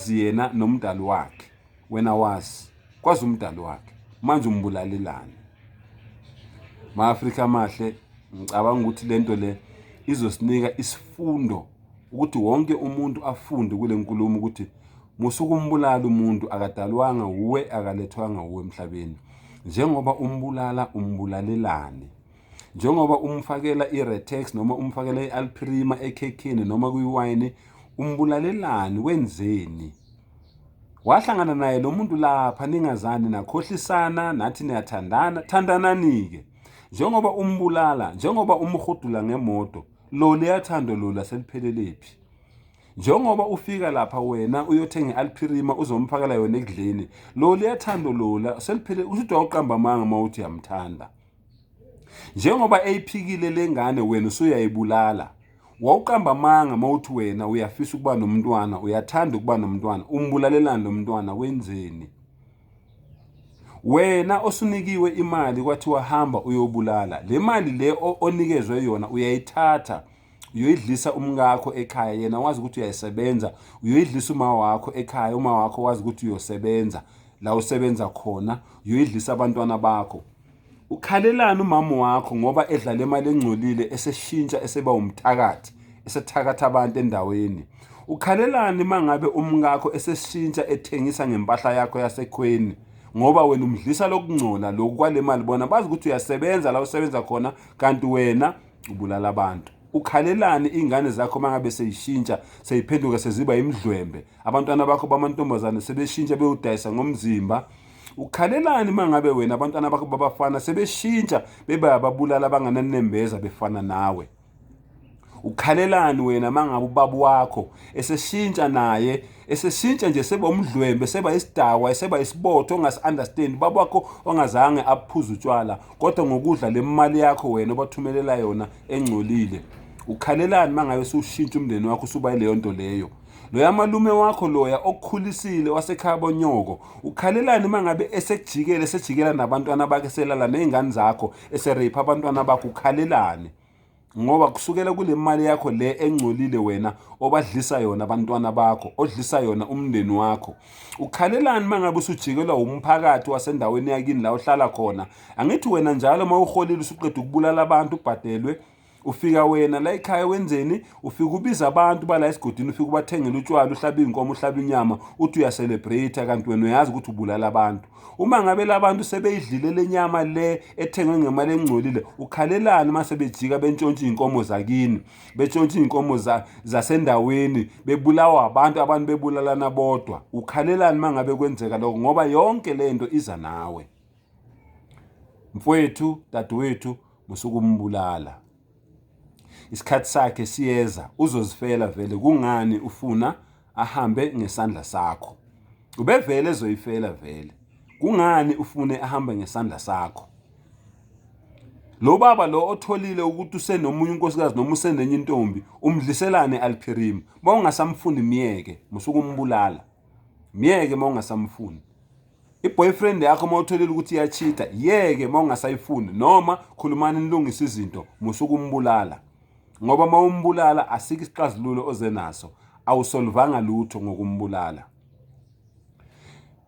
wazi yena nomdali wakhe wena wazi kwazi umdali wakhe manje umbulalelani ma-afrika amahle ngicabanga ukuthi le nto le izosinika isifundo ukuthi wonke umuntu afunde kule nkulumo ukuthi musukumbulala umuntu akadalwanga wuwe akalethwanga wuwe emhlabeni njengoba umbulala umbulalelane njengoba umfakela i-retex noma umfakela i-alprima ekhekhini noma kwiwayini umbulalelani wenzeni wahlangana naye lo muntu lapha ningazani nakhohlisana nathi niyathandana thandanani-ke njengoba umbulala njengoba umhudula ngemoto lo liyathando lo laselipheleliphi njengoba ufika lapha wena uyothenga i-alphirima uzomphakela yona ekudleni lo liyathando lola seliphele ushuthi wawuqamba amanga uma uthi yamthanda njengoba eyiphikile lengane wena usuyayibulala wawuqamba amanga mawuthi wena uyafisa ukuba nomntwana uyathanda ukuba nomntwana umbulalelani lo mntwana wenzeni wena osunikiwe imali kwathi wahamba uyobulala le mali le onikezwe yona uyayithatha uyoyidlisa umkakho ekhaya yena wazi ukuthi uyayisebenza uyoyidlisa uma wakho ekhaya uma wakho wazi ukuthi uyosebenza la usebenza khona uyoyidlisa abantwana bakho Ukhalelani umama wakho ngoba edla le mali engcolile eseshintsha eseba umthakathi esethakatha abantu endaweni? Ukhalelani uma ngabe umkakho eseshintsha ethengisa ngempahla yakho yasekhweni ngoba wena umdlisa lokungcola loku kwale mali bona bazi ukuthi uyasebenza la usebenza khona kanti wena ubulala abantu ukhalelani iy'ngane zakho uma ngabe seyishintsha seyiphenduka seziba imidlwembe abantwana bakho bamantombazane sebeshintsha bewudayisa ngomzimba ukhalelani mangabe wena abantwana bakho babafana sebeshintsha beba ababulala abangananembeza befana nawe ukhalelani wena mangabe ubaba wakho eseshintsha naye eseshintsha nje seba umdlwembe seba isidakwa seba isibotho ongasi understand baba wakho ongazange aphuza utshwala kodwa ngokudla lemali yakho wena obathumelela yona engcolile ukhalelani mangabe usushintsha umndeni wakho usuba leyo nto leyo loya malume wakho loya okukhulisile wasekhaya bonyoko ukhalelani uma ngabe esekujikela esejikela nabantwana bakhe selala ney'ngane zakho esereyipha abantwana bakho ukhalelani ngoba kusukela kule mali yakho le engcolile wena obadlisa yona abantwana bakho odlisa yona umndeni wakho ukhalelani uma ngabe usujikelwa wumphakathi wasendaweni yakini la ohlala khona angithi wena njalo uma uholile usuqeda ukubulala abantu ubhadelwe ufika wena la ekhaya wenzeni ufika ubiza abantu bala esigodini ufika ubathengela utshwala uhlaba iy'nkomo uhlaba inyama uthi uyacelebrate kanti wena uyazi ukuthi ubulala abantu uma ngabe labantu sebeyidlile le nyama le ethengwe ngemali engcolile ukhalelani uma sebejika bentshontsha iy'nkomo zakini betshontsha iy'nkomo zasendaweni bebulawa abantu abantu bebulalana bodwa ukhalelani uma ngabe kwenzeka lokho ngoba yonke le nto iza nawe mfowethu dadewethu musukumbulala isikhathi sakhe siyeza uzozifela vele kungani ufuna ahambe ngesandla sakho ubevele ezoyifela vele kungani ufune ahambe ngesandla sakho lo baba lo otholile ukuthi usenomunye unkosikazi noma usenenye intombi umdliselane aliphirim mawungasamfuni myeke musukumbulala myeke mawungasamfuni iboyfriend yakho uma utholile ukuthi iyachitha yeke uma ungasayifuni noma khulumani nilungise izinto musukumbulala ngoba uma umbulala asike isixazululo oze naso awusolvanga lutho ngokumbulala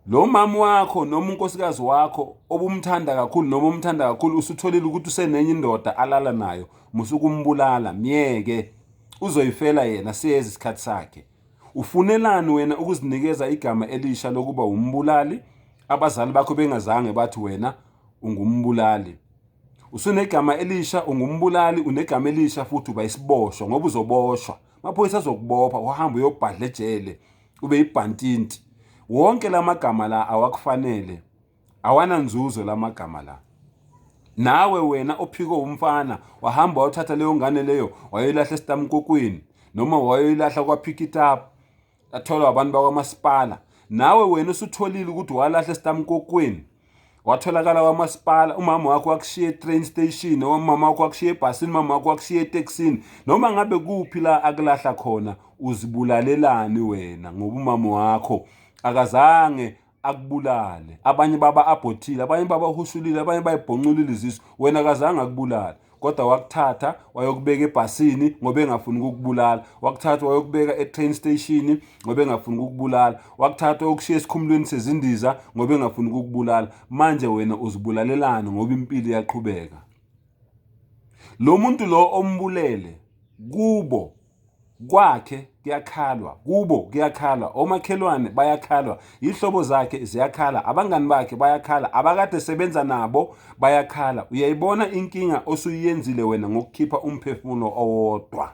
lo mama wakho noma unkosikazi wakho obumthanda kakhulu noma umthanda kakhulu usutholile ukuthi usenenye indoda alala nayo musukumbulala myeke uzoyifela yena siyeza isikhathi sakhe Ufunelani wena ukuzinikeza igama elisha lokuba wumbulali abazali bakho bengazange bathi wena ungumbulali? Usunegama elisha ungumbulali unegama elisha futhi uba isiboshwa ngoba uzoboshwa. Amaphoyisa azokubopha uhambe uyobhadla ejele ube ibhantinti. Wonke la magama la awakufanele. awananzuzo lamagama la nawe wena ophiko umfana wahamba wayothatha leyo ngane leyo wayoyilahla esitamkokwini noma wayoyilahla kwaphikitap atholwa abantu bakwamasipala nawe wena usutholile ukuthi walahla esitamkokwini watholakala kwamasipala umama wakho wakushiya e-train station noma umama wakho wakushiya ebhasini umama wakho wakushiya etekisini noma ngabe kuphi la akulahla khona uzibulalelani wena ngoba umama wakho akazange akubulale abanye baba abhothile abanye baba hushulile abanye bayibhonculile izisu wena kazange akubulale kodwa wakuthatha wayokubeka ebhasini ngoba engafuni ukukubulala wakuthatha wayokubeka e-train station ngoba engafuni ukukubulala wakuthatha okushiya esikhumulweni sezindiza ngoba engafuni ukukubulala manje wena uzibulalelani ngoba impilo iyaqhubeka lo muntu lo ombulele kubo Kwakhe kuyakhalwa, kubo kuyakhalwa, omakhelwane bayakhalwa, yihlobo zakhe ziyakhala, abangani bakhe bayakhala, abakade sebenza nabo bayakhala. Uyayibona inkinga osuyiyenzile wena ngokukhipha umphefumulo owodwa.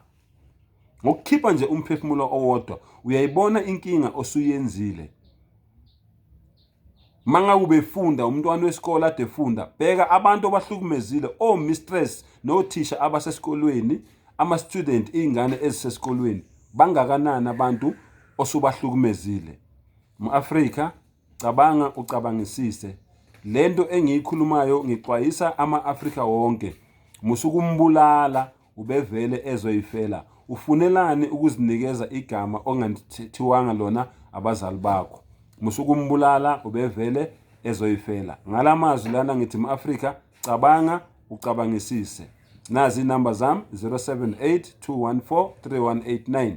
Ngokukhipha nje umphefumulo owodwa, uyayibona inkinga osuyenzile. Manga ubefunda umntwana wesikole ade funda bheka abantu obahlukumezile o mistress nothisha abasesikolweni ama student izingane ezisesikolweni bangakanani abantu osubahlukumezile mu-Afrika cabanga ucabangisise lento engiyikhulumayo ngixwayisa ama-Afrika wonke musukumbulala ubevele ezoyifela ufunelani ukuzinikeza igama ongathiwanga lona abazali bakho musukumbulala ubevele ezoyifela ngala mazwi lana ngithi mu-afrika cabanga ucabangisise nazi inamba zami 078 214 3189